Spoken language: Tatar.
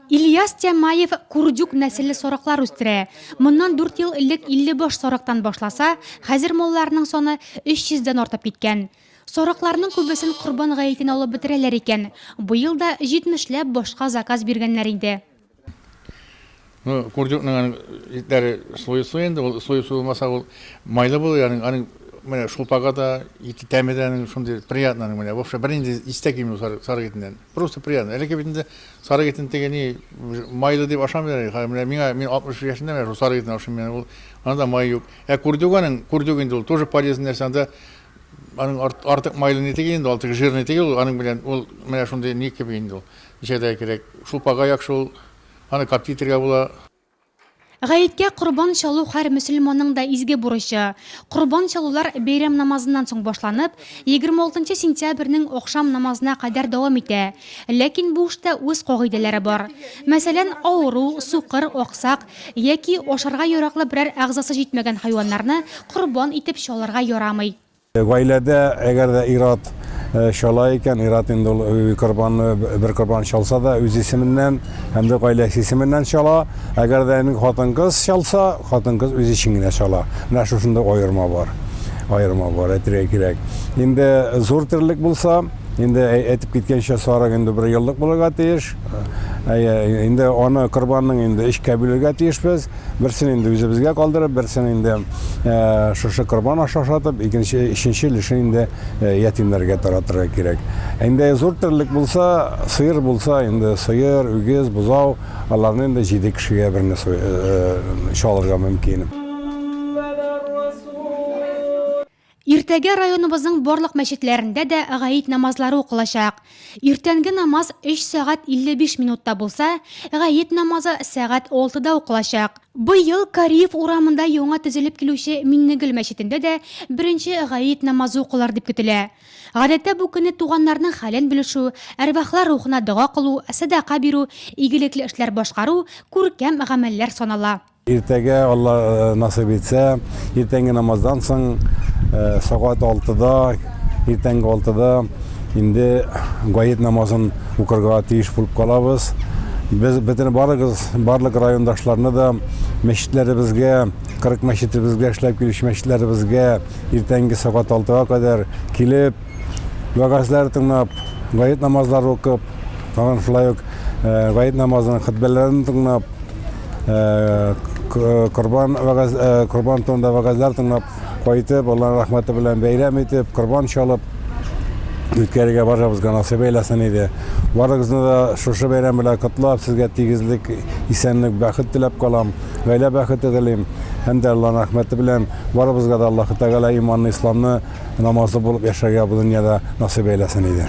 Ильяс Тямаев курдюк нәселле сорыклар үстерә. Моннан 4 ел элек 50 баш сорыктан башласа, хәзер малларның саны 300 дән артып киткән. Сорыкларның күбесен Корбан гаетенә алып бетерәләр икән. Быел да 70 ләп башка заказ биргәннәр инде. Ну, курдюкның аның итләре слой слой инде, ул слой слой булмаса ул майлы булыр, ягъни аның менә шулпага да, ите тәме дә аның шундый приятный аның менә. Вообще бернинди истә килми сары, сары итеннән. Просто приятно. Әлеге бит инде сары итен теге ни майлы дип ашамыйлар әле. Хәзер менә миңа мин 60 яшендә менә шул сары итен ашыйм мин. Ул анда май юк. Ә курдюк аның, курдюк инде ул тоже полезный нәрсә анда. Аның артык майлы не тиги инде, ул тиги жирный тиги, аның белән ул менә шундый ни кеби инде ул. Җәдәй кирәк. Шулпага яхшы ул. Аны капти итергә була. Гаеткә корбан чалу һәр мөселманның да изге бурычы. Корбан чалулар бәйрәм намазыннан соң башланып, 26 сентябрьнең ахшам намазына кадәр дәвам итә. Ләкин бу эштә үз кагыйдәләре бар. Мәсәлән, авыру, сукыр, аксак яки ашарга яраклы берәр әгъзасы җитмәгән хайваннарны корбан итеп чалырга ярамый. Гаиләдә, әгәр дә ир-ат чала икән, ир-ат инде ул корбанны, бер корбан чалса да, үз исеменнән һәм дә гаиләсе исеменнән чала. Әгәр дә инде хатын-кыз чалса, хатын-кыз үз өчен генә чала. Менә шушында аерма бар. Аерма бар, әйтергә кирәк. Инде зур терлек булса, инде әйтеп киткәнчә, сарык инде бер еллык булырга тиеш. Әйе, инде аны корбанның инде өчкә бүлергә тиешбез. Берсен инде үзебезгә калдырып, берсен инде э, шушы корбан аша ашатып, икенче, өченче өлешен инде э, ятимнәргә таратырга кирәк. Инде зур терлек булса, сыер булса, инде сыер, үгез, бозау, аларны инде җиде кешегә берне э, чалырга мөмкин. Иртәгә районыбызның барлык мәчетләрендә дә гает намазлары укылачак. Иртәнге намаз 3 сәгать 55 минутта булса, гает намазы сәгать алтыда укылачак. Быел Кариев урамында яңа төзелеп килүче Миннегөл мәчетендә дә беренче гает намазы укылыр дип көтелә. Гадәттә бу көнне туганнарның хәлен белешү, әрвахлар рухына дога кылу, сәдака бирү, игелекле эшләр башкару, күркәм гамәлләр санала. Иртәгә, Алла насыйп итсә, иртәнге намаздан соң, сәгать алтыда, иртәнге алтыда инде гает намазын укырга тиеш булып калабыз. Без бөтен барыгыз, барлык райондашларны да мәчетләребезгә, 40 мәчетебезгә, эшләп килүче мәчетләребезгә иртәнге сәгать алтыга кадәр килеп, вәгазьләр тыңлап, гает намазлары укып, тагын шулай ук гает намазының хөтбәләрен тыңлап, корбан вәгаз корбан турында вәгазьләр тыңлап кайтып, Аллаһның рәхмәте белән бәйрәм итеп, корбан чалып үткәрергә барыбызга насыйп әйләсен иде. Барыгызны да шушы бәйрәм белән котлап, сезгә тигезлек, исәнлек, бәхет теләп калам. Гаилә бәхете телим. Һәм дә Аллаһның рәхмәте белән барыбызга да Аллаһ Тәгалә иманны, исламны намазлы булып яшәргә бу дөньяда насыйп әйләсен иде.